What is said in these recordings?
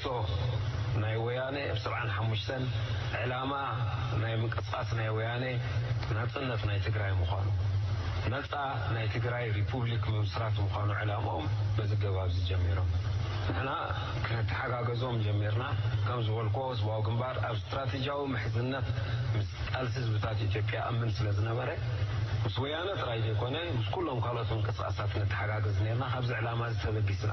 ጽሑፍ ናይ ወያኔ ብ ሰብዓን ሓሙሽተን ዕላማ ናይ ምንቅስቃስ ናይ ወያኔ ናጽነት ናይ ትግራይ ምዃኑ ነጻ ናይ ትግራይ ሪፑብሊክ ምምስራት ምዃኑ ዕላምኦም በዚ ገባብዚ ጀሚሮም ንሕና ክነተሓጋገዞም ጀሚርና ከም ዝበልኩዎ ህዝባዊ ግንባር ኣብ ስትራቴጂያዊ ምሕዝነት ምስ ቃልሲ ህዝብታት ኢትዮጵያ እምን ስለ ዝነበረ ምስ ወያነ ጥራይ ዘይኮነ ምስ ኩሎም ካልኦት ምንቅስቃሳት ነተሓጋገዝ ኔርና ካብዚ ዕላማ እዚ ተበጊስና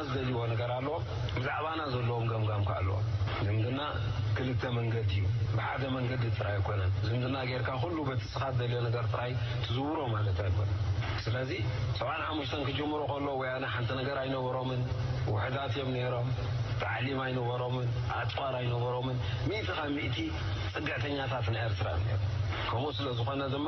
ንሕና ዝደልይዎ ነገር ኣሎ ብዛዕባና ዘለዎም ገምጋም ከኣ ኣለዎም። ዝምድና ክልተ መንገዲ እዩ ብሓደ መንገዲ ጥራይ ኣይኮነን። ዝምድና ጌርካ ኩሉ በቲ እስኻ ትደልዮ ነገር ጥራይ ትዝውሮ ማለት ኣይኮነን። ስለዚ ሰብዓን ሓሙሽተን ክጅምሩ ከለዉ ወያነ ሓንቲ ነገር ኣይነበሮምን ውሑዳት እዮም ኔሮም ታዕሊም ኣይነበሮምን ኣጽዋር ኣይነበሮምን ሚእቲ ካብ ሚእቲ ጽግዕተኛታት ናይ ኤርትራ እዮም ኔሮም ከምኡ ስለ ዝኾነ ድማ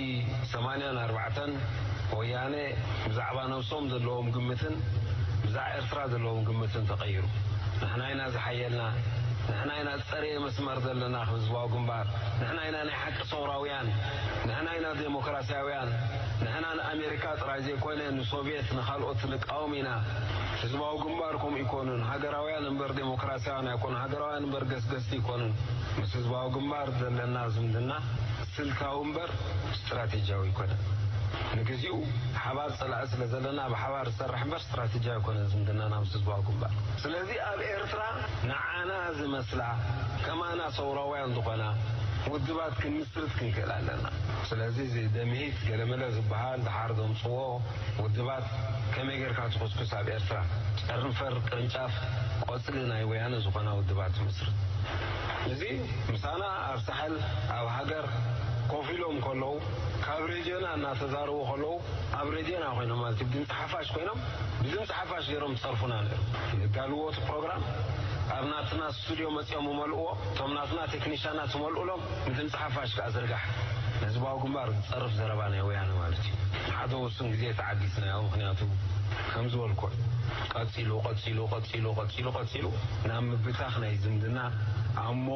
ዓዲ ሰማንያን ኣርባዕተን ወያነ ብዛዕባ ነብሶም ዘለዎም ግምትን ብዛዕ ኤርትራ ዘለዎም ግምትን ተቀይሩ ንሕና ኢና ዝሓየልና ንሕና ኢና ዝጸረየ መስመር ዘለና ክብ ህዝባዊ ግንባር ንሕና ኢና ናይ ሓቂ ሰውራውያን ንሕና ኢና ደሞክራስያውያን ንሕና ንኣሜሪካ ጥራይ ዘይኮነ ንሶቭየት ንካልኦት ንቃወም ኢና ህዝባዊ ግንባር ከምኡ ኣይኮኑን ሃገራውያን እምበር ደሞክራስያውያን ኣይኮኑን ሃገራውያን እምበር ገስገስቲ ኣይኮኑን ምስ ህዝባዊ ግንባር ዘለና ዝምድና ስልታዊ እምበር ስትራቴጂያዊ ኣይኮነን። ንግዚኡ ሓባር ጸላኢ ስለ ዘለና ብሓባር ዝሰርሕ እምበር ስትራቴጂያዊ ኣይኮነን ዝምድናና ምስ ህዝባዊ ግንባር። ስለዚ ኣብ ኤርትራ ንዓና ዝመስላ ከማና ሰውራውያን ዝኾና ውድባት ክንምስርት ክንክእል ኣለና። ስለዚ እዚ ደምሂት ገለመለ ዝበሃል ደሓር ዘምጽዎ ውድባት ከመይ ጌርካ ትኹስኩስ ኣብ ኤርትራ ጨርንፈር ቅርንጫፍ ቆጽሊ ናይ ወያነ ዝኾና ውድባት ትምስርት እዚ ምሳና ኣብ ሳሕል ኣብ ሃገር ኮፍ ኢሎም ከለዉ ካብ ሬድዮና እናተዛረቡ ከለዉ ኣብ ሬድዮና ኮይኖም ማለት እዩ ድምጺ ሓፋሽ ኮይኖም ብድምጺ ሓፋሽ ገይሮም ዝጸርፉና ነይሮም ንጋልዎ እቲ ፕሮግራም ኣብ ናትና ስቱድዮ መጺኦም እመልእዎ እቶም ናትና ቴክኒሻናት እመልኡሎም ብድምጺ ሓፋሽ ከኣ ዝርጋሕ ንህዝባዊ ግንባር ዝጸርፍ ዘረባ ናይ ወያነ ማለት እዩ ንሓደ ውሱን ግዜ ተዓጊስናዮ ምኽንያቱ ከም ዝበልክዎ እዩ ቀጺሉ ቀጺሉ ቀጺሉ ቀጺሉ ቀጺሉ ናብ ምብታኽ ናይ ዝምድና ኣብ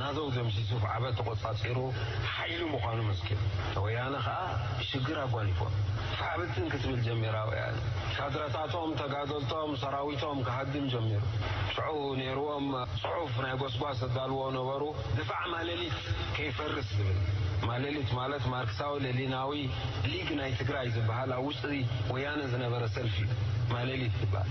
ናደው ደምሲሱ ብዓበት ተቆጻጺሩ ሓይሊ ምዃኑ መስኪሩ። ወያነ ከኣ ሽግር ኣጓኒፎም ፋሕብትን ክትብል ጀሚራ ወያነ ካድረታቶም ተጋደልቶም ሰራዊቶም ክሃድም ጀሚሩ። ሽዑ ነይርዎም ጽሑፍ ናይ ጎስጓስ ዘዳልዎ ነበሩ ድፋዕ ማለሊት ከይፈርስ ዝብል። ማለሊት ማለት ማርክሳዊ ለሊናዊ ሊግ ናይ ትግራይ ዝብሃል ኣብ ውሽጢ ወያነ ዝነበረ ሰልፊ እዩ ማለሊት ዝብሃል።